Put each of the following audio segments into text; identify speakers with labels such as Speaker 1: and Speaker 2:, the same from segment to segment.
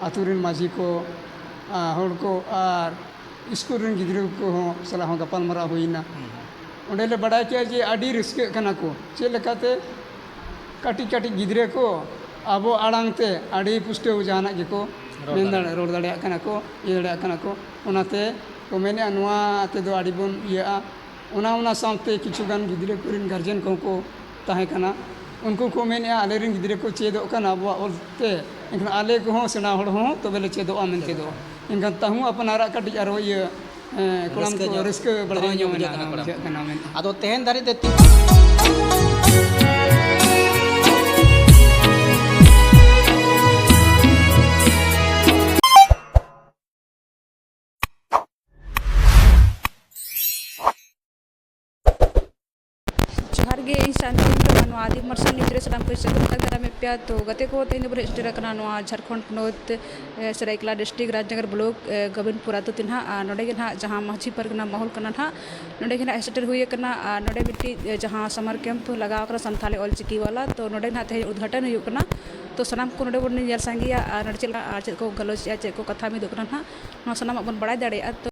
Speaker 1: ᱟᱹᱛᱩ ᱨᱮᱱ ᱢᱟᱺᱡᱷᱤ ᱠᱚ ᱦᱚᱲ ᱠᱚ ᱟᱨ ᱥᱠᱩᱞ ᱨᱮᱱ ᱜᱤᱫᱽᱨᱟᱹ ᱠᱚᱦᱚᱸ ᱥᱟᱞᱟᱜ ᱦᱚᱸ ᱜᱟᱯᱟᱞ ᱢᱟᱨᱟᱣ ᱦᱩᱭ ᱮᱱᱟ ᱚᱸᱰᱮ ᱞᱮ ᱵᱟᱰᱟᱭ ᱠᱮᱫᱼᱟ ᱡᱮ ᱟᱹᱰᱤ ᱨᱟᱹᱥᱠᱟᱹᱜ ᱠᱟᱱᱟ ᱠᱚ ᱪᱮᱫ ᱞᱮᱠᱟᱛᱮ ᱠᱟᱹᱴᱤᱡ ᱠᱟᱹᱴᱤᱡ ᱜᱤᱫᱽᱨᱟᱹ ᱠᱚ ᱟᱵᱚ ᱟᱲᱟᱝ ᱛᱮ ᱟᱹᱰᱤ ᱯᱩᱥᱴᱟᱹᱣ ᱡᱟᱦᱟᱱᱟᱜ ᱜᱮᱠᱚ ᱢᱮᱱ ᱫᱟᱲᱮᱭᱟᱜᱼᱟ ᱨᱚᱲ ᱫᱟᱲᱮᱭᱟᱜ ᱠᱟᱱᱟ ᱠᱚ ᱤᱭᱟᱹ ᱫᱟᱲᱮᱭᱟᱜ ᱠᱟᱱᱟ ᱠᱚ ᱚᱱᱟᱛᱮ ᱠᱚ ᱢᱮᱱᱮᱫᱼᱟ ᱱᱚᱣᱟ ᱛᱮᱫᱚ ᱟᱹᱰᱤ ᱵᱚᱱ ᱤᱭᱟᱹᱜᱼᱟ ᱚᱱᱟ ᱚᱱᱟ ᱥᱟᱶᱛᱮ ᱠᱤᱪᱷᱩ ᱜᱟᱱ ᱜᱤᱫᱽᱨᱟᱹ ᱠᱚᱨᱮᱱ ᱜᱟᱨᱡᱮᱱ ᱠᱚᱦᱚᱸ ᱠᱚ ᱛᱟᱦᱮᱸ ᱠᱟᱱᱟ ᱩᱱᱠᱩ ᱠᱚ ᱢᱮᱱᱮᱜᱼᱟ ᱟᱞᱮ ᱨᱮᱱ ᱜᱤᱫᱽᱨᱟᱹ ᱠᱚ ᱪᱮᱫᱚᱜ ᱠᱟᱱᱟ ᱟᱵᱚᱣᱟᱜ ᱚᱞ ᱛᱮ ᱮᱱᱠᱷᱟᱱ ᱟᱞᱮ ᱠᱚᱦᱚᱸ ᱥᱮᱬᱟ ᱦᱚᱲ ᱦᱚᱸ ᱛᱚᱵᱮ ᱞᱮ ᱪᱮᱫᱚᱜᱼᱟ ᱢᱮᱱᱛᱮ ᱫᱚ ᱮᱱᱠᱷᱟᱱ ᱛᱟᱹᱦᱩ ᱟᱯᱱᱟᱨᱟᱜ ᱠᱟᱹᱴᱤᱡ ᱟᱨᱚ ᱤᱭᱟᱹ ᱠᱚᱲᱟᱢ ᱠᱚ ᱨᱟᱹᱥᱠᱟᱹ ᱵᱟᱲᱦᱟᱣ ᱧᱚᱜ ᱮᱱᱟ ᱵᱩᱡᱷᱟᱹᱜ ᱠᱟᱱᱟ ᱢᱮᱱᱛᱮ ᱟᱫᱚ ᱛᱮᱦᱮᱧ ᱫᱷᱟᱹᱨᱤᱡ
Speaker 2: ᱛᱮ ᱛᱤᱱ
Speaker 3: ᱡᱚᱦᱟᱨ ᱜᱮ ᱤᱧ ᱥᱟᱱᱛᱤᱱᱤ ᱴᱩᱰᱩ ᱱᱚᱣᱟ ᱟᱫᱤᱢ ᱢᱟᱨᱥᱟᱞ ᱱᱤᱭᱩᱡᱽ ᱨᱮ ᱥᱟᱱᱟᱢ ᱠᱚ ᱥᱟᱹᱜᱩᱱ ᱟᱨᱫᱟᱥ ᱫᱟᱨᱟᱢ ᱮᱫ ᱯᱮᱭᱟ ᱛᱚ ᱜᱟᱛᱮ ᱠᱚ ᱛᱮᱦᱮᱧ ᱫᱚᱵᱚᱱ ᱦᱮᱡ ᱥᱮᱴᱮᱨ ᱟᱠᱟᱱᱟ ᱱᱚᱣᱟ ᱡᱷᱟᱲᱠᱷᱚᱸᱰ ᱯᱚᱱᱚᱛ ᱥᱚᱨᱟᱭᱠᱮᱞᱞᱟ ᱰᱤᱥᱴᱤᱠ ᱨᱟᱡᱽᱱᱚᱜᱚᱨ ᱵᱞᱚᱠ ᱜᱳᱵᱤᱱᱫᱽᱯᱩᱨ ᱟᱹᱛᱩ ᱛᱮ ᱱᱟᱦᱟᱜ ᱟᱨ ᱱᱚᱰᱮ ᱜᱮ ᱱᱟᱦᱟᱜ ᱡᱟᱦᱟᱸ ᱢᱟᱹᱡᱷᱤ ᱯᱟᱨᱜᱟᱱᱟ ᱢᱚᱦᱚᱞ ᱠᱟᱱᱟ ᱱᱟᱦᱟᱜ ᱱᱚᱰᱮ ᱜᱮ ᱱᱟᱦᱟᱜ ᱦᱮᱡ ᱥᱮᱴᱮᱨ ᱦᱩᱭ ᱟᱠᱟᱱᱟ ᱟᱨ ᱱᱚᱰᱮ ᱢᱤᱫᱴᱤᱡ ᱡᱟᱦᱟᱸ ᱥᱟᱢᱟᱨ ᱠᱮᱢᱯ ᱠᱚ ᱞᱟᱜᱟᱣ ᱟᱠᱟᱱᱟ ᱥᱟᱱᱛᱷᱟᱞᱤ ᱚᱞ ᱪᱤᱠᱤ ᱵᱟᱞᱟ ᱛᱚ ᱱᱚᱰᱮ ᱱᱟᱦᱟᱜ ᱛᱮᱦᱮᱧ ᱩᱫᱽᱜᱷᱟᱴᱚᱱ ᱦᱩᱭᱩᱜ ᱠᱟᱱᱟ ᱛᱚ ᱥᱟᱱᱟᱢ ᱠᱚ ᱱᱚᱰᱮ ᱵᱚᱱ ᱧᱮᱞ ᱥᱟᱸᱜᱮᱭᱟ ᱟᱨ ᱱᱚᱰᱮ ᱪᱮᱫ ᱞᱮᱠᱟ ᱟᱨ ᱪᱮᱫ ᱠᱚ ᱜᱟᱞᱚᱪ ᱮᱫᱼᱟ ᱪᱮᱫ ᱠᱚ ᱠᱟᱛᱷᱟ ᱢᱤᱫᱚᱜ ᱠᱟᱱᱟ ᱱᱟᱦᱟᱜ ᱱᱚᱣᱟ ᱥᱟᱱᱟᱢᱟᱜ ᱵᱚᱱ ᱵᱟᱲᱟᱭ ᱫᱟᱲᱮᱭᱟᱜᱼᱟ ᱛᱚ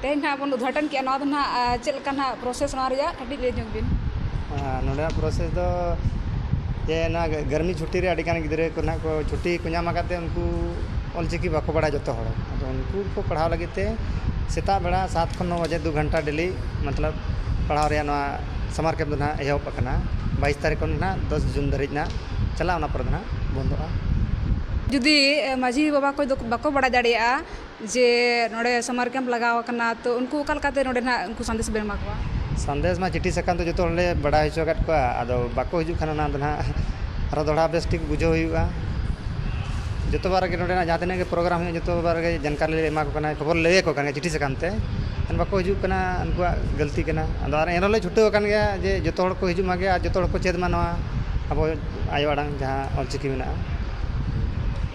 Speaker 3: ᱛᱮᱦᱮᱧ ᱱᱟᱦᱟᱜ ᱵᱚᱱ ᱩᱫᱽᱜᱷᱟᱴᱚᱱ ᱠᱮᱜᱼᱟ ᱱᱚᱣᱟ ᱫᱚ ᱱᱟᱦᱟᱜ ᱪᱮᱫ ᱞᱮᱠᱟ ᱱᱟᱦᱟᱜ ᱯᱨᱚᱥᱮᱥ ᱱᱚᱣᱟ ᱨᱮᱭᱟᱜ ᱠᱟᱹᱴᱤᱡ ᱞᱟᱹᱭ ᱧᱚᱜᱽ ᱵᱤᱱ ᱱᱚᱰᱮᱭᱟᱜ
Speaker 4: ᱯᱨᱚᱥᱮᱥ ᱫᱚ ᱡᱮ ᱱᱚᱣᱟ ᱜᱟᱨᱢᱤ ᱪᱷᱩᱴᱤ ᱨᱮ ᱟᱹᱰᱤ ᱜᱟᱱ ᱜᱤᱫᱽᱨᱟᱹ ᱠᱚ ᱱᱟᱦᱟᱜ ᱠᱚ ᱪᱷᱩᱴᱤ ᱠᱚ ᱧᱟᱢ ᱟᱠᱟᱫ ᱛᱮ ᱩᱱᱠᱩ ᱚᱞ ᱪᱤᱠᱤ ᱵᱟᱠᱚ ᱵᱟᱲᱟᱭᱟ ᱡᱚᱛᱚ ᱦᱚᱲ ᱟᱫᱚ ᱩᱱᱠᱩ ᱠᱚ ᱯᱟᱲᱦᱟᱣ ᱞᱟᱹᱜᱤᱫ ᱛᱮ ᱥᱮᱛᱟᱜ ᱵᱮᱲᱟ ᱥᱟᱛ ᱠᱷᱚᱱ ᱱᱚ ᱵᱟᱡᱮ ᱫᱩ ᱜᱷᱚᱱᱴᱟ ᱰᱮᱞᱤ ᱢᱚᱛᱞᱚᱵ ᱯᱟᱲᱦᱟᱣ ᱨᱮᱭᱟᱜ ᱱᱚᱣᱟ ᱥᱟᱢᱟᱨ ᱠᱮᱢᱯ ᱫᱚ ᱱᱟᱦᱟᱜ ᱮᱦᱚᱵ ᱟᱠᱟᱱᱟ ᱵᱟᱭᱤᱥ ᱛᱟᱹᱨᱤᱠᱷ ᱠᱷᱚᱱ ᱱᱟᱦᱟᱜ ᱫᱚᱥ ᱡᱩᱱ ᱫᱷᱟᱹᱨᱤᱡ ᱱᱟᱦᱟᱜ ᱪᱟᱞᱟᱜᱼᱟ ᱚᱱᱟ ᱯᱚᱨᱮ ᱫᱚ ᱱᱟᱦᱟᱜ ᱵᱚᱱᱫᱚᱜᱼᱟ ᱡᱩᱫᱤ
Speaker 3: ᱢᱟᱺᱡᱷᱤ ᱵᱟᱵᱟ ᱠᱚ ᱵᱟᱠᱚ ᱵᱟᱲᱟᱭ ᱫᱟᱲᱮᱭᱟᱜᱼᱟ ᱡᱮ ᱱᱚᱰᱮ ᱥᱟᱢᱟᱨ ᱠᱮᱢᱯ ᱞᱟᱜᱟᱣ ᱟᱠᱟᱱᱟ ᱛᱚ ᱩᱱᱠᱩ ᱚᱠᱟ ᱞᱮᱠᱟᱛᱮ ᱱᱚᱰᱮ ᱱᱟᱜ ᱩᱱᱠᱩ ᱥᱟᱸᱫᱮᱥ ᱵᱮᱱ ᱮᱢᱟ ᱠᱚᱣᱟ ᱥᱟᱸᱫᱮᱥ ᱢᱟ ᱪᱤᱴᱷᱤ
Speaker 4: ᱥᱟᱠᱟᱢ ᱛᱮ ᱡᱚᱛᱚ ᱦᱚᱲᱞᱮ ᱵᱟᱰᱟᱭ ᱦᱚᱪᱚ ᱟᱠᱟᱫ ᱠᱚᱣᱟ ᱟᱫᱚ ᱵᱟᱠᱚ ᱦᱤᱡᱩᱜ ᱠᱷᱟᱱ ᱚᱱᱟ ᱫᱚ ᱱᱟᱜ ᱟᱨᱚ ᱫᱚᱦᱲᱟ ᱵᱮᱥ ᱴᱷᱤᱠ ᱵᱩᱡᱷᱟᱹᱣ ᱦᱩᱭᱩᱜᱼᱟ ᱡᱚᱛᱚ ᱵᱟᱨ ᱨᱮᱜᱮ ᱱᱚᱰᱮᱱᱟᱜ ᱡᱟᱦᱟᱸ ᱛᱤᱱᱟᱹᱜ ᱜᱮ ᱯᱨᱳᱜᱨᱟᱢ ᱦᱩᱭᱩᱜᱼᱟ ᱡᱚᱛᱚ ᱵᱟᱨ ᱨᱮᱜᱮ ᱡᱟᱱᱠᱟᱨᱤ ᱞᱮ ᱮᱢᱟ ᱠᱚ ᱠᱟᱱᱟ ᱠᱷᱚᱵᱚᱨ ᱞᱟᱹᱭ ᱟᱠᱚ ᱠᱟᱱᱟ ᱪᱤᱴᱷᱤ ᱥᱟᱠᱟᱢ ᱛᱮ ᱮᱱᱠᱷᱟᱱ ᱵᱟᱠᱚ ᱦᱤᱡᱩᱜ ᱠᱟᱱᱟ ᱩᱱᱠᱩᱣᱟᱜ ᱜᱟᱹᱞᱛᱤ ᱠᱟᱱᱟ ᱟᱫᱚ ᱮᱱ ᱨᱮᱦᱚᱸ ᱞᱮ ᱪᱷᱩᱴᱟᱹᱣ ᱟᱠᱟᱱ ᱜᱮᱭᱟ ᱡᱮ ᱡᱚᱛᱚ ᱦᱚᱲ ᱠᱚ ᱦᱤᱡᱩᱜ ᱢᱟᱜᱮ ᱟᱨ ᱡᱚᱛᱚ ᱦᱚᱲ ᱠᱚ ᱪᱮᱫ ᱢᱟ ᱱᱚᱣᱟ ᱟᱵᱚ ᱟᱭᱳ ᱟᱲᱟᱝ ᱡᱟᱦᱟᱸ ᱚᱞ ᱪᱤᱠᱤ ᱢᱮᱱᱟᱜᱼᱟ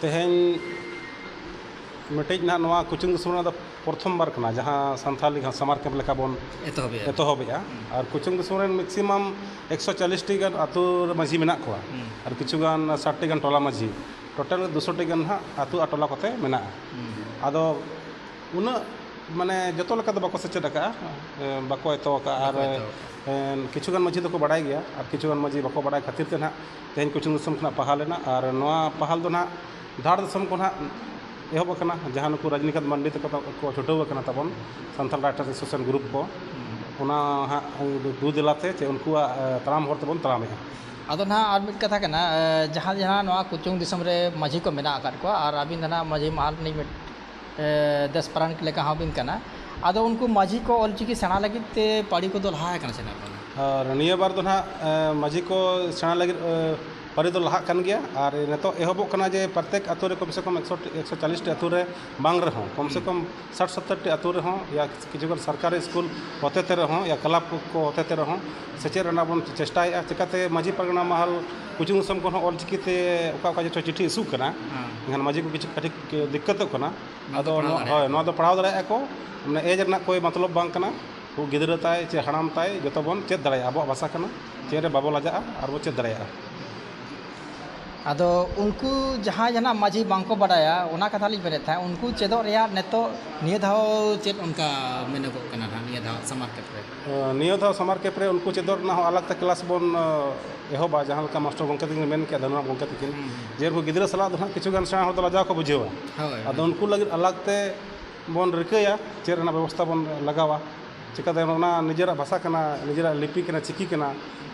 Speaker 2: ᱛᱮᱦᱮᱧ
Speaker 5: ᱢᱤᱫᱴᱮᱡ ᱱᱟᱜ ᱱᱚᱣᱟ ᱠᱳᱪᱤᱝ ᱫᱤᱥᱚᱢ ᱨᱮᱱᱟᱜ ᱫᱚ ᱯᱨᱚᱛᱷᱚᱢ ᱵᱟᱨ ᱠᱟᱱᱟ ᱡᱟᱦᱟᱸ ᱥᱟᱱᱛᱷᱟᱞᱤ ᱡᱟᱦᱟᱸ ᱥᱟᱢᱟᱨ ᱠᱮᱢᱯ ᱞᱮᱠᱟ ᱵᱚᱱ ᱮᱛᱚᱦᱚᱵᱮᱜᱼᱟ ᱮᱛᱚᱦᱚᱵᱮᱜᱼᱟ ᱟᱨ ᱠᱳᱪᱤᱝ ᱫᱤᱥᱚᱢ ᱨᱮᱱ ᱢᱮᱠᱥᱤᱢᱟᱢ ᱮᱠᱥᱚ ᱪᱟᱞᱞᱤᱥᱴᱤ ᱜᱟᱱ ᱟᱹᱛᱩ ᱨᱮ ᱢᱟᱺᱡᱷᱤ ᱢᱮᱱᱟᱜ ᱠᱚᱣᱟ ᱟᱨ ᱠᱤᱪᱷᱩ ᱜᱟᱱ ᱥᱟᱴᱴᱤ ᱜᱟᱱ ᱴᱚᱞᱟ ᱢᱟᱺᱡᱷᱤ ᱴᱳᱴᱟᱞ ᱫᱩᱥᱚᱴᱤ ᱜᱟᱱ ᱦᱟᱸᱜ ᱟᱹᱛᱩ ᱟᱨ ᱴᱚᱞᱟ ᱠᱚᱛᱮ ᱢᱮᱱᱟᱜᱼᱟ ᱟᱫᱚ ᱩᱱᱟᱹᱜ ᱢᱟᱱᱮ ᱡᱚᱛᱚ ᱞᱮᱠᱟ ᱫᱚ ᱵᱟᱠᱚ ᱥᱮᱪᱮᱫ ᱟᱠᱟᱫᱼᱟ ᱵᱟᱠᱚ ᱮᱛᱚᱦᱚᱵ ᱟᱠᱟᱫᱼᱟ ᱟᱨ ᱠᱤᱪᱷᱩ ᱜᱟᱱ ᱢᱟᱺᱡᱷᱤ ᱫᱚᱠᱚ ᱵᱟᱲᱟᱭ ᱜᱮᱭᱟ ᱟᱨ ᱠᱤᱪᱷᱩ ᱜᱟᱱ ᱢᱟᱺᱡᱷᱤ ᱵᱟᱠᱚ ᱵᱟᱲᱟᱭ ᱠᱷᱟᱹᱛᱤᱨ ᱛᱮ ᱱᱟᱜ ᱛᱮᱦᱮᱧ ᱠᱚᱪᱷᱮᱱ ᱫᱤᱥᱚᱢ ᱠᱷᱚᱱᱟᱜ ᱯᱟᱦᱟᱞ ᱮᱱᱟ ᱟᱨ ᱱᱚᱣᱟ ᱯᱟᱦᱟᱞ ᱫᱚ ᱱᱟᱜ ᱫᱷᱟᱲ ᱫᱤᱥᱚᱢ ᱠᱷᱚᱱ ᱦᱟᱸᱜ ᱮᱦᱚᱵ ᱟᱠᱟᱱᱟ ᱡᱟᱦᱟᱸ ᱱᱩᱠᱩ ᱨᱟᱡᱽᱱᱤᱠᱟᱱᱛ ᱢᱟᱱᱰᱤ ᱛᱟᱠᱚ ᱠᱚ ᱪᱷᱩᱴᱟᱹᱣ ᱟᱠᱟᱱᱟ ᱛᱟᱵᱚᱱ ᱥᱟᱱᱛᱟᱲ ᱨᱟᱭᱴᱟᱨᱥ ᱮᱥᱳᱥᱤᱭᱮᱥᱚᱱ ᱜᱨᱩᱯ ᱠᱚ ᱚᱱᱟ ᱦᱟᱸᱜ ᱫᱩ ᱫᱮᱞᱟᱛᱮ ᱪᱮ ᱩᱱᱠᱩᱣᱟᱜ ᱛᱟᱲᱟᱢ ᱦᱚᱨ ᱛᱮᱵᱚᱱ ᱛᱟᱲᱟᱢᱮᱜᱼᱟ ᱟᱫᱚ ᱱᱟᱜ ᱟᱨ ᱢᱤᱫ
Speaker 2: ᱠᱟᱛᱷᱟ ᱠᱟᱱᱟ ᱡᱟᱦᱟᱸ ᱡᱟᱦᱟᱸ ᱱᱚᱣᱟ ᱠᱚᱪᱩᱝ ᱫᱤᱥᱚᱢ ᱨᱮ ᱢᱟᱹᱡᱷᱤ ᱠᱚ ᱢᱮᱱᱟᱜ ᱟᱠᱟᱫ ᱠᱚᱣᱟ ᱟᱨ ᱟᱹᱵᱤᱱ ᱫᱚ ᱱᱟᱜ ᱢᱟᱹᱡᱷᱤ ᱢᱟᱦᱟᱞ ᱨᱤᱱᱤᱡ ᱫᱮᱥ ᱯᱟᱨᱟᱱᱤᱠ ᱞᱮᱠᱟ ᱦᱚᱸ ᱵᱤᱱ ᱠᱟᱱᱟ ᱟᱫᱚ ᱩᱱᱠᱩ ᱢᱟᱹᱡᱷᱤ ᱠᱚ ᱚᱞ ᱪᱤᱠᱤ ᱥᱮᱬᱟ ᱞᱟᱹᱜᱤᱫ ᱛᱮ ᱯᱟᱹᱨᱤ ᱠᱚᱫᱚ ᱞᱟᱦᱟ ᱟᱠᱟᱱᱟ ᱥᱮ ᱵᱟᱝ ᱟᱨ ᱱᱤᱭᱟᱹ ᱵᱟᱨ ᱫᱚ
Speaker 5: ᱱᱟᱦᱟᱜ ᱢᱟᱹᱡᱷᱤ ᱠᱚ ᱥᱮᱬᱟ ᱞᱟᱹᱜᱤᱫ ᱯᱟᱹᱨᱤ ᱫᱚ ᱞᱟᱦᱟᱜ ᱠᱟᱱ ᱜᱮᱭᱟ ᱟᱨ ᱱᱤᱛᱚᱜ ᱮᱦᱚᱵᱚᱜ ᱠᱟᱱᱟ ᱡᱮ ᱯᱨᱚᱛᱮᱠ ᱟᱹᱛᱩ ᱨᱮ ᱠᱚᱢ ᱥᱮ ᱠᱚᱢ ᱮᱠᱥᱚ ᱴᱤ ᱮᱠᱥᱚ ᱪᱟᱞᱤᱥ ᱴᱤ ᱟᱹᱛᱩ ᱨᱮ ᱵᱟᱝ ᱨᱮᱦᱚᱸ ᱠᱚᱢ ᱥᱮ ᱠᱚᱢ ᱥᱟᱴ ᱥᱚᱛᱛᱚᱨ ᱴᱤ ᱟᱹᱛᱩ ᱨᱮᱦᱚᱸ ᱭᱟ ᱠᱤᱪᱷᱩ ᱜᱟᱱ ᱥᱚᱨᱠᱟᱨᱤ ᱥᱠᱩᱞ ᱦᱚᱛᱮ ᱛᱮ ᱨᱮᱦᱚᱸ ᱭᱟ ᱠᱞᱟᱵᱽ ᱠᱚ ᱦᱚᱛᱮ ᱛᱮ ᱨᱮᱦᱚᱸ ᱥᱮᱪᱮᱫ ᱨᱮᱱᱟᱜ ᱵᱚᱱ ᱪᱮᱥᱴᱟᱭᱮᱜᱼᱟ ᱪᱤᱠᱟᱹᱛᱮ ᱢᱟᱹᱡᱷᱤ ᱯᱟᱨᱜᱟᱱᱟ ᱢᱟᱦᱟᱞ ᱠᱩᱪᱷᱩᱝ ᱥᱚᱝᱠᱷᱚᱱ ᱦᱚᱸ ᱚᱞ ᱪᱤᱠᱤᱛᱮ ᱚᱠᱟ ᱚᱠᱟ ᱡᱚᱛᱚ ᱪᱤᱴᱷᱤ ᱤᱥᱩᱜ ᱠᱟᱱᱟ ᱮᱱᱠᱷᱟᱱ ᱢᱟᱹᱡᱷᱤ ᱠᱚ ᱠᱤᱪᱷᱩ ᱠᱟᱹᱴᱤᱡ ᱫᱤᱠᱠᱟᱹᱛᱚᱜ ᱠᱟᱱᱟ ᱟᱫᱚ ᱦᱳᱭ ᱱᱚᱣᱟ ᱫᱚ ᱯᱟᱲᱦᱟᱣ ᱫᱟᱲᱮᱭᱟᱜᱼᱟ ᱠᱚ ᱢᱟᱱᱮ ᱮᱡᱽ ᱨᱮᱱᱟᱜ ᱠᱳᱭ ᱢᱚᱛᱞᱚᱵᱽ ᱵᱟᱝ ᱠᱟᱱᱟ ᱩᱱᱠᱩ ᱜᱤᱫᱽᱨᱟᱹ ᱛᱟᱭ ᱪᱮ ᱦᱟᱲᱟᱢ ᱛᱟᱭ ᱡᱚᱛᱚ ᱵᱚᱱ ᱪᱮᱫ ᱫᱟᱲᱮᱭᱟᱜᱼᱟ ᱟᱵᱚᱣᱟᱜ ᱵᱷᱟᱥᱟ ᱠᱟᱱᱟ ᱪᱮᱫ ᱨᱮ ᱵᱟᱵᱚ ᱞᱟᱡᱟᱜᱼᱟ ᱟᱨ ᱵᱚᱱ ᱪᱮᱫ ᱫᱟᱲᱮᱭᱟᱜᱼᱟ
Speaker 2: ᱟᱫᱚ ᱩᱱᱠᱩ ᱡᱟᱦᱟᱸᱭ ᱡᱟᱦᱟᱱᱟᱜ ᱢᱟᱹᱡᱷᱤ ᱵᱟᱝ ᱠᱚ ᱵᱟᱰᱟᱭᱟ ᱚᱱᱟ ᱠᱟᱛᱷᱟ ᱞᱤᱧ ᱢᱮᱱᱮᱫ ᱛᱟᱦᱮᱸᱫ ᱩᱱᱠᱩ ᱪᱮᱫᱚᱜ ᱨᱮᱭᱟᱜ ᱱᱤᱛᱚᱜ ᱱᱤᱭᱟᱹ ᱫᱷᱟᱣ ᱪᱮᱫ ᱚᱱᱠᱟ ᱢᱮᱱᱚᱜᱚᱜ ᱠᱟᱱᱟ ᱱᱟᱦᱟᱜ ᱱᱤᱭᱟᱹ ᱫᱷᱟᱣ ᱥᱟᱢᱟᱨ ᱠᱮᱢᱯ ᱨᱮ ᱱᱤᱭᱟᱹ ᱫᱷᱟᱣ ᱥᱟᱢᱟᱨ
Speaker 5: ᱠᱮᱢᱯ ᱨᱮ ᱩᱱᱠᱩ ᱪᱮᱫᱚᱜ ᱨᱮᱱᱟᱜ ᱦᱚᱸ ᱟᱞᱟᱜᱽ ᱛᱮ ᱠᱞᱟᱥ ᱵᱚᱱ ᱮᱦᱚᱵᱟ ᱡᱟᱦᱟᱸ ᱞᱮᱠᱟ ᱢᱟᱥᱴᱚᱨ ᱜᱚᱢᱠᱮ ᱛᱟᱹᱠᱤᱱ ᱠᱤᱱ ᱢᱮᱱ ᱠᱮᱜᱼᱟ ᱫᱷᱚᱱᱚᱨᱟᱢ ᱜᱚᱢᱠᱮ ᱛᱟᱹᱠᱤᱱ ᱡᱮ ᱩᱱᱠᱩ ᱜᱤᱫᱽᱨᱟᱹ ᱥᱟᱞᱟᱜ ᱫᱚ ᱦᱟᱸᱜ ᱠᱤᱪᱷᱩ ᱜᱟᱱ ᱥᱮᱬᱟ ᱦᱚᱲ ᱫᱚ ᱞᱟᱡᱟᱣ ᱠᱚ ᱵᱩᱡᱷᱟᱹᱣᱟ ᱟᱫᱚ ᱩᱱᱠᱩ ᱞᱟᱹᱜᱤᱫ ᱟᱞᱟᱜᱽ ᱛᱮ ᱵᱚᱱ ᱨᱤᱠᱟᱹᱭᱟ ᱪᱮᱫ ᱨᱮᱱᱟᱜ ᱵᱮᱵᱚᱥᱛᱷᱟ ᱵᱚᱱ ᱞᱟᱜᱟᱣᱟ ᱪᱤᱠᱟᱹᱛᱮ ᱚᱱᱟ ᱱᱤᱡᱮᱨᱟᱜ ᱵᱷᱟᱥᱟ ᱠᱟᱱᱟ ᱱᱤᱡᱮᱨᱟᱜ ᱞᱤᱯᱤ ᱠᱟᱱᱟ ᱪᱤᱠᱤ ᱠᱟᱱᱟ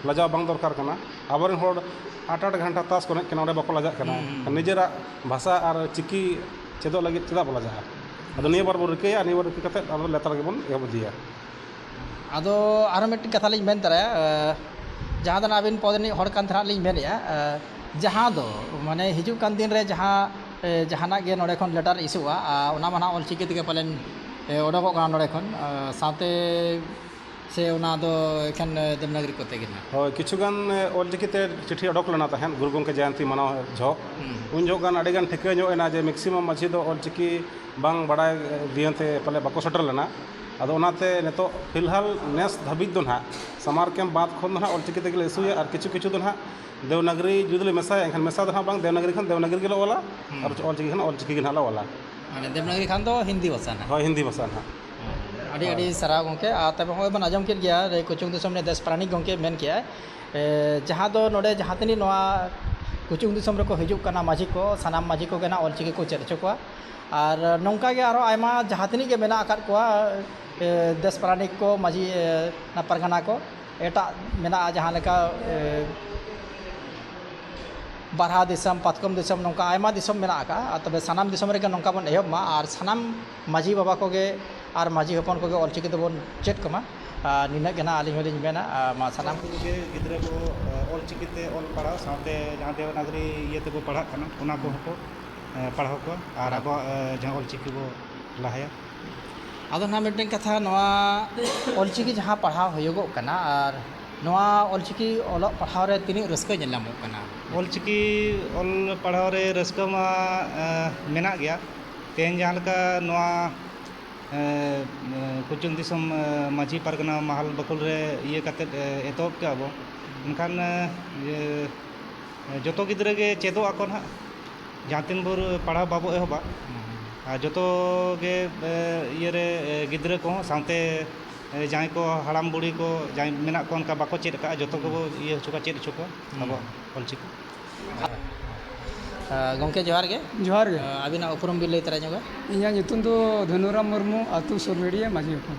Speaker 5: ᱞᱟᱡᱟᱣ ᱵᱟᱝ ᱫᱚᱨᱠᱟᱨ ᱠᱟᱱᱟ ᱟᱵᱚ ᱨᱮᱱ ᱦᱚᱲ ᱟᱴ ᱟᱴ ᱜᱷᱚᱱᱴᱟ ᱛᱟᱥ ᱠᱚ ᱮᱱᱮᱡ ᱠᱟᱱᱟ ᱚᱸᱰᱮ ᱵᱟᱠᱚ ᱞᱟᱡᱟᱜ ᱠᱟᱱᱟ ᱱᱤᱡᱮᱨᱟᱜ ᱵᱷᱟᱥᱟ ᱟᱨ ᱪᱤᱠᱤ ᱪᱮᱫᱚᱜ ᱞᱟᱹᱜᱤᱫ ᱪᱮᱫᱟᱜ ᱵᱚᱱ ᱞᱟᱡᱟᱜᱼᱟ ᱟᱫᱚ ᱱᱤᱭᱟᱹ ᱵᱟᱨ ᱵᱚᱱ ᱨᱤᱠᱟᱹᱭᱟ ᱱᱤᱭᱟᱹ ᱵᱟᱨ ᱨᱤᱠᱟᱹ ᱠᱟᱛᱮᱫ ᱟᱨᱚ ᱞᱟᱛᱟᱨ ᱜᱮᱵᱚᱱ ᱮᱦᱚᱵ ᱤᱫᱤᱭᱟ ᱟᱫᱚ
Speaker 2: ᱟᱨᱚ ᱢᱤᱫᱴᱮᱱ ᱠᱟᱛᱷᱟ ᱞᱤᱧ ᱢᱮᱱ ᱛᱚᱨᱟᱭᱟ ᱡᱟᱦᱟᱸ ᱫᱚ ᱦᱟᱸᱜ ᱟᱹᱵᱤᱱ ᱯᱚᱫᱽ ᱨᱤᱱᱤᱡ ᱦᱚᱲ ᱠᱟᱱ ᱛᱟᱦᱮᱱᱚᱜ ᱞᱤᱧ ᱢᱮᱱᱮᱫᱼᱟ ᱡᱟᱦᱟᱸ ᱫᱚ ᱢᱟᱱᱮ ᱦᱤᱡᱩᱜ ᱠᱟᱱ ᱫᱤᱱ ᱨᱮ ᱡᱟᱦᱟᱸ ᱡᱟᱦᱟᱱᱟᱜ ᱜᱮ ᱱᱚᱰᱮ ᱠᱷᱚᱱ ᱞᱮᱴᱟᱨ ᱤᱥᱩᱜᱼᱟ ᱚᱱᱟ ᱢᱟ ᱦᱟᱸᱜ ᱚᱞ ᱪᱤᱠᱤ ᱛᱮᱜᱮ ᱯᱟᱞᱮᱱ ᱚᱰᱳᱠᱚᱜ ᱠᱟᱱᱟ ᱱᱚᱰᱮ ᱠᱷᱚᱱ ᱥᱟᱶᱛᱮ ᱥᱮ ᱚᱱᱟ ᱫᱚ ᱮᱠᱷᱮᱱ ᱫᱮᱵᱽᱱᱟᱜᱚᱨᱤ ᱠᱚᱛᱮ ᱜᱮ ᱦᱟᱸᱜ ᱦᱳᱭ ᱠᱤᱪᱷᱩ ᱜᱟᱱ
Speaker 5: ᱚᱞ ᱪᱤᱠᱤ ᱛᱮ ᱪᱤᱴᱷᱤ ᱚᱰᱳᱠ ᱞᱮᱱᱟ ᱛᱟᱦᱮᱸᱫ ᱜᱩᱨᱩ ᱜᱚᱢᱠᱮ ᱡᱚᱭᱚᱱᱛᱤ ᱢᱟᱱᱟᱣ ᱡᱚᱦᱚᱜ ᱩᱱ ᱡᱚᱦᱚᱜ ᱜᱟᱱ ᱟᱹᱰᱤ ᱜᱟᱱ ᱴᱷᱤᱠᱟᱹ ᱧᱚᱜ ᱮᱱᱟ ᱡᱮ ᱢᱮᱠᱥᱤᱢᱟᱢ ᱢᱟᱺᱡᱷᱤ ᱫᱚ ᱚᱞ ᱪᱤᱠᱤ ᱵᱟᱝ ᱵᱟᱲᱟᱭ ᱤᱭᱟᱹᱛᱮ ᱯᱟᱞᱮ ᱵᱟᱠᱚ ᱥᱮᱴᱮᱨ ᱞᱮᱱᱟ ᱟᱫᱚ ᱚᱱᱟᱛᱮ ᱱᱤᱛᱚᱜ ᱯᱷᱤᱞᱦᱟᱞ ᱱᱮᱥ ᱫᱷᱟᱹᱵᱤᱡ ᱫᱚ ᱱᱟᱦᱟᱜ ᱥᱟᱢᱟᱨ ᱠᱮᱢᱯ ᱵᱟᱫᱽ ᱠᱷᱚᱱ ᱫᱚ ᱱᱟᱦᱟᱜ ᱚᱞ ᱪᱤᱠᱤ ᱛᱮᱜᱮᱞᱮ ᱤᱥᱩᱭᱟ ᱟᱨ ᱠᱤᱪᱷᱩ ᱠᱤᱪᱷᱩ ᱫᱚ ᱱᱟᱦᱟᱜ ᱫᱮᱵᱽᱱᱟᱜᱚᱨᱤ ᱡᱩᱫᱤᱞᱮ ᱢᱮᱥᱟᱭᱟ ᱮᱱᱠᱷᱟᱱ ᱢᱮᱥᱟ ᱫᱚ ᱱᱟᱦᱟᱜ ᱵᱟᱝ ᱫᱮᱵᱽᱱᱟᱜᱚᱨᱤ ᱠᱷᱟᱱ ᱫᱮᱵᱽᱱᱟᱜᱚᱨᱤ ᱜᱮᱞᱮ ᱚᱞᱟ ᱟᱨ ᱚᱞ ᱪᱤᱠᱤ ᱠᱷᱟᱱ ᱚᱞ ᱪᱤᱠᱤ ᱜᱮ ᱱᱟᱦᱟᱜ ᱞᱮ ᱚᱞᱟ ᱢᱟᱱᱮ ᱫᱮᱵᱽᱱᱟᱜᱚᱨᱤ ᱠᱷᱟᱱ
Speaker 2: ᱫᱚ ᱦᱤᱱᱫᱤ ᱵᱷᱟᱥᱟ ᱱᱟᱦᱟᱜ ᱦᱳᱭ ᱦᱤᱱᱫᱤ ᱵᱷᱟᱥᱟ
Speaker 5: ᱱᱟᱦᱟᱜ ᱟᱹᱰᱤ ᱟᱹᱰᱤ
Speaker 2: ᱥᱟᱨᱦᱟᱣ ᱜᱚᱢᱠᱮ ᱟᱨ ᱛᱚᱵᱮ ᱦᱚᱸᱜᱼᱚᱭ ᱵᱚᱱ ᱟᱸᱡᱚᱢ ᱠᱮᱫ ᱜᱮᱭᱟ ᱞᱟᱹᱭ ᱠᱩᱪᱩᱝ ᱫᱤᱥᱚᱢ ᱨᱮᱱ ᱫᱮᱥ ᱯᱟᱨᱟᱱᱤᱠ ᱜᱚᱢᱠᱮ ᱢᱮᱱ ᱠᱮᱫᱼᱟᱭ ᱡᱟᱦᱟᱸ ᱫᱚ ᱱᱚᱰᱮ ᱡᱟᱦᱟᱸ ᱛᱤᱱᱟᱹᱜ ᱱᱚᱣᱟ ᱠᱩᱪᱩᱝ ᱫᱤᱥᱚᱢ ᱨᱮᱠᱚ ᱦᱤᱡᱩᱜ ᱠᱟᱱᱟ ᱢᱟᱹᱡᱷᱤ ᱠᱚ ᱥᱟᱱᱟᱢ ᱢᱟᱹᱡᱷᱤ ᱠᱚᱜᱮ ᱱᱟᱦᱟᱜ ᱚᱞ ᱪᱤᱠᱤ ᱠᱚ ᱪᱮᱫ ᱦᱚᱪᱚ ᱠᱚᱣᱟ ᱟᱨ ᱱᱚᱝᱠᱟ ᱜᱮ ᱟᱨᱚ ᱟᱭᱢᱟ ᱡᱟᱦᱟᱸ ᱛᱤᱱᱟᱹᱜ ᱜᱮ ᱢᱮᱱᱟᱜ ᱟᱠᱟᱫ ᱠᱚᱣᱟ ᱫᱮᱥ ᱯᱟᱨᱟᱱᱤᱠ ᱠᱚ ᱢᱟᱺᱡᱷᱤ ᱯᱟᱨᱜᱟᱱᱟ ᱠᱚ ᱮᱴᱟᱜ ᱢᱮᱱᱟᱜᱼᱟ ᱡᱟᱦᱟᱸ ᱞᱮᱠᱟ ᱵᱟᱨᱦᱟ ᱫᱤᱥᱚᱢ ᱯᱟᱛᱠᱚᱢ ᱫᱤᱥᱚᱢ ᱱᱚᱝᱠᱟ ᱟᱭᱢᱟ ᱫᱤᱥᱚᱢ ᱢᱮᱱᱟᱜ ᱟᱠᱟᱫᱼᱟ ᱛᱚᱵᱮ ᱥᱟᱱᱟᱢ ᱫᱤᱥᱚᱢ ᱨᱮᱜᱮ ᱱᱚᱝᱠᱟ ᱵᱚᱱ ᱮᱦᱚᱵ ᱢᱟ ᱟᱨ ᱥᱟᱱᱟᱢ ᱢᱟᱺᱡᱷᱤ ᱵᱟᱵᱟ ᱠᱚᱜᱮ ᱟᱨ ᱢᱟᱺᱡᱷᱤ ᱦᱚᱯᱚᱱ ᱠᱚᱜᱮ ᱚᱞ ᱪᱤᱠᱤ ᱫᱚᱵᱚᱱ ᱪᱮᱫ ᱠᱚᱢᱟ ᱟᱨ ᱱᱤᱱᱟᱹᱜ ᱜᱮ ᱱᱟᱜ ᱟᱹᱞᱤᱧ ᱦᱚᱸᱞᱤᱧ ᱢᱮᱱᱟ ᱢᱟ ᱥᱟᱱᱟᱢ ᱠᱚᱜᱮ ᱜᱤᱫᱽᱨᱟᱹ ᱠᱚ
Speaker 6: ᱚᱞ ᱪᱤᱠᱤᱛᱮ ᱚᱞ ᱯᱟᱲᱦᱟᱣ ᱥᱟᱶᱛᱮ ᱡᱟᱦᱟᱸ ᱫᱮᱵᱽᱱᱟᱜᱚᱨᱤ ᱤᱭᱟᱹ ᱛᱮᱠᱚ ᱯᱟᱲᱦᱟᱜ ᱠᱟᱱᱟ ᱚᱱᱟ ᱠᱚᱦᱚᱸ ᱠᱚ ᱯᱟᱲᱦᱟᱣ ᱠᱚᱣᱟ ᱟᱨ ᱟᱵᱚᱣᱟᱜ ᱡᱟᱦᱟᱸ ᱚᱞ ᱪᱤᱠᱤ ᱵᱚᱱ ᱞᱟᱦᱟᱭᱟ ᱟᱫᱚ
Speaker 2: ᱱᱟᱦᱟᱜ ᱢᱤᱫᱴᱮᱱ ᱠᱟᱛᱷᱟ ᱱᱚᱣᱟ ᱚᱞ ᱪᱤᱠᱤ ᱡᱟᱦᱟᱸ ᱯᱟᱲᱦᱟᱣ ᱦᱩᱭᱩᱜᱚᱜ ᱠᱟᱱᱟ ᱟᱨ ᱱᱚᱣᱟ ᱚᱞ ᱪᱤᱠᱤ ᱚᱞᱚᱜ ᱯᱟᱲᱦᱟᱣ ᱨᱮ ᱛᱤᱱᱟᱹᱜ ᱨᱟᱹᱥᱠᱟᱹ ᱧᱮᱞ ᱧᱟᱢᱚᱜ ᱠᱟᱱᱟ ᱚᱞ ᱪᱤᱠᱤ
Speaker 6: ᱚᱞ ᱯᱟᱲᱦᱟᱣ ᱨᱮ ᱨᱟᱹᱥᱠᱟᱹ ᱢᱟ ᱢᱮᱱᱟᱜ ᱜᱮᱭᱟ ᱛᱮᱦᱮᱧ ᱡᱟᱦᱟᱸ ᱞᱮᱠᱟ ᱱᱚᱣᱟ ᱠᱚᱪᱩᱝ ᱫᱤᱥᱚᱢ ᱢᱟᱺᱡᱷᱤ ᱯᱟᱨᱜᱟᱱᱟ ᱢᱟᱦᱟᱞ ᱵᱟᱠᱷᱳᱞ ᱨᱮ ᱤᱭᱟᱹ ᱠᱟᱛᱮᱫ ᱮᱛᱚᱦᱚᱵ ᱠᱮᱜᱼᱟ ᱵᱚᱱ ᱢᱮᱱᱠᱷᱟᱱ ᱡᱚᱛᱚ ᱜᱤᱫᱽᱨᱟᱹ ᱜᱮ ᱪᱮᱫᱚᱜ ᱟᱠᱚ ᱱᱟᱦᱟᱜ ᱡᱟᱦᱟᱸ ᱛᱤᱱ ᱵᱷᱳᱨ ᱯᱟᱲᱦᱟᱣ ᱵᱟᱵᱚ ᱮᱦᱚᱵᱟ ᱟᱨ ᱡᱚᱛᱚ ᱜᱮ ᱤᱭᱟᱹ ᱨᱮ ᱜᱤᱫᱽᱨᱟᱹ ᱠᱚᱦᱚᱸ ᱥᱟᱶᱛᱮ ᱡᱟᱦᱟᱸᱭ ᱠᱚ ᱦᱟᱲᱟᱢ ᱵᱩᱲᱦᱤ ᱠᱚ ᱡᱟᱦᱟᱸᱭ ᱢᱮᱱᱟᱜ ᱠᱚ ᱚᱱᱠᱟ ᱵᱟᱠᱚ ᱪᱮᱫ ᱟᱠᱟᱫᱼᱟ ᱡᱚᱛᱚ ᱜᱮᱵᱚ ᱤᱭᱟᱹ ᱦᱚᱪᱚ ᱠᱚᱣᱟ ᱪᱮᱫ ᱦᱚᱪᱚ ᱠᱚᱣᱟ ᱟᱵᱚᱣᱟᱜ ᱚᱞ ᱪᱤᱠᱤ
Speaker 2: ᱜᱚᱢᱠᱮ ᱡᱚᱦᱟᱨ ᱜᱮ ᱡᱚᱦᱟᱨ ᱜᱮ ᱟᱹᱵᱤᱱᱟᱜ ᱩᱯᱨᱩᱢ ᱵᱤᱱ ᱞᱟᱹᱭ ᱛᱚᱨᱟ ᱧᱚᱜᱟ ᱤᱧᱟᱹᱜ ᱧᱩᱛᱩᱢ ᱫᱚ
Speaker 1: ᱫᱷᱚᱱᱩᱨᱟᱢ ᱢᱩᱨᱢᱩ ᱟᱹᱛᱩ ᱥᱩᱨᱱᱟᱹᱲᱤᱭᱟᱹ ᱢᱟᱹᱡᱷᱤ ᱦᱚᱯᱚᱱ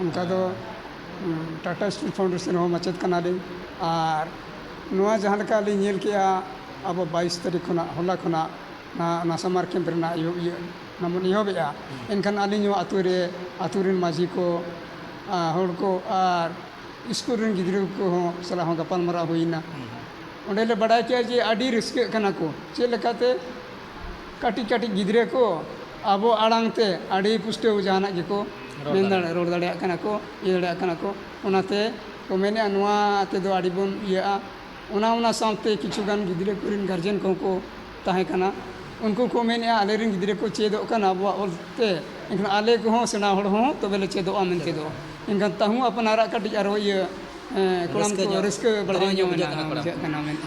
Speaker 2: ᱚᱱᱠᱟ
Speaker 1: ᱫᱚ ᱴᱟᱴᱟ ᱥᱴᱤᱞ ᱯᱷᱟᱣᱩᱱᱰᱮᱥᱚᱱ ᱨᱮᱦᱚᱸ ᱢᱟᱪᱮᱫ ᱠᱟᱱᱟᱞᱤᱧ ᱟᱨ ᱱᱚᱣᱟ ᱡᱟᱦᱟᱸ ᱞᱮᱠᱟ ᱞᱤᱧ ᱧᱮᱞ ᱠᱮᱜᱼᱟ ᱟᱵᱚ ᱵᱟᱭᱤᱥ ᱛᱟᱹᱨᱤᱠᱷ ᱠᱷᱚᱱᱟᱜ ᱦᱚᱞᱟ ᱠᱷᱚᱱᱟᱜ ᱚᱱᱟ ᱥᱟᱢᱟᱨ ᱠᱮᱢᱯ ᱨᱮᱱᱟᱜ ᱤᱭᱟᱹ ᱤᱭᱟᱹ ᱚᱱᱟ ᱵᱚᱱ ᱮᱦᱚᱵᱮᱜᱼᱟ ᱮᱱᱠᱷᱟᱱ ᱟᱹᱞᱤᱧ ᱦᱚᱸ ᱟᱹᱛᱩ ᱨᱮ ᱟᱹᱛᱩ ᱨᱮᱱ ᱢᱟᱹᱡᱷᱤ ᱠᱚ ᱟᱨ ᱦᱚᱲ ᱠᱚ ᱟᱨ ᱥᱠᱩᱞ ᱨᱮᱱ ᱜᱤᱫᱽᱨᱟᱹ ᱠᱚᱦᱚᱸ ᱥᱟᱞᱟᱜ ᱦᱚᱸ ᱜᱟᱯᱟᱞᱢᱟᱨᱟᱣ ᱦᱩᱭᱱᱟ ᱚᱸᱰᱮᱞᱮ ᱵᱟᱰᱟᱭ ᱠᱮᱜᱼᱟ ᱡᱮ ᱟᱹᱰᱤ ᱨᱟᱹᱥᱠᱟᱹᱜ ᱠᱟᱱᱟ ᱠᱚ ᱪᱮᱫ ᱞᱮᱠᱟᱛᱮ ᱠᱟᱹᱴᱤᱡ ᱠᱟᱹᱴᱤᱡ ᱜᱤᱫᱽᱨᱟᱹ ᱠᱚ ᱟᱵᱚ ᱟᱲᱟᱝ ᱛᱮ ᱟᱹᱰᱤ ᱯᱩᱥᱴᱟᱹᱣ ᱡᱟᱦᱟᱱᱟᱜ ᱜᱮᱠᱚ ᱢᱮᱱ ᱫᱟᱲᱮᱭᱟᱜᱼᱟ ᱨᱚᱲ ᱫᱟᱲᱮᱭᱟᱜ ᱠᱟᱱᱟ ᱠᱚ ᱤᱭᱟᱹ ᱫᱟᱲᱮᱭᱟᱜ ᱠᱟᱱᱟ ᱠᱚ ᱚᱱᱟᱛᱮ ᱠᱚ ᱢᱮᱱᱮᱫᱼᱟ ᱱᱚᱣᱟ ᱛᱮᱫᱚ ᱟᱹᱰᱤ ᱵᱚᱱ ᱤᱭᱟᱹᱜᱼᱟ ᱚᱱᱟ ᱚᱱᱟ ᱥᱟᱶᱛᱮ ᱠᱤᱪᱷᱩ ᱜᱟᱱ ᱜᱤᱫᱽᱨᱟᱹ ᱠᱚᱨᱮᱱ ᱜᱟᱨᱡᱮᱱ ᱠᱚᱦᱚᱸ ᱠᱚ ᱛᱟᱦᱮᱸ ᱠᱟᱱᱟ ᱩᱱᱠᱩ ᱠᱚ ᱢᱮᱱᱮᱫᱼᱟ ᱟᱞᱮ ᱨᱮᱱ ᱜᱤᱫᱽᱨᱟᱹ ᱠᱚ ᱪᱮᱫᱚᱜ ᱠᱟᱱᱟ ᱟᱵᱚᱣᱟᱜ ᱚᱞ ᱛᱮ ᱮᱱᱠᱷᱟᱱ ᱟᱞᱮ ᱠᱚᱦᱚᱸ ᱥᱮᱬᱟ ᱦᱚᱲ ᱦᱚᱸ ᱛᱚᱵᱮ ᱞᱮ ᱪᱮᱫᱚᱜᱼᱟ ᱢᱮᱱᱛᱮ ᱫᱚ ᱮᱱᱠᱷᱟᱱ ᱛᱟᱹᱦᱩ ᱟᱯᱱᱟᱨᱟᱜ ᱠᱟᱹᱴᱤᱡ ᱟᱨᱚ ᱤᱭᱟᱹ
Speaker 2: ᱠᱚᱲᱟᱢ ᱠᱚ
Speaker 1: ᱨᱟᱹᱥᱠᱟᱹ ᱵᱟᱲᱦᱟᱣ ᱧᱚᱜ ᱮᱱᱟ ᱵᱩᱡᱷᱟᱹᱜ ᱠᱟᱱᱟ ᱢᱮᱱᱛᱮ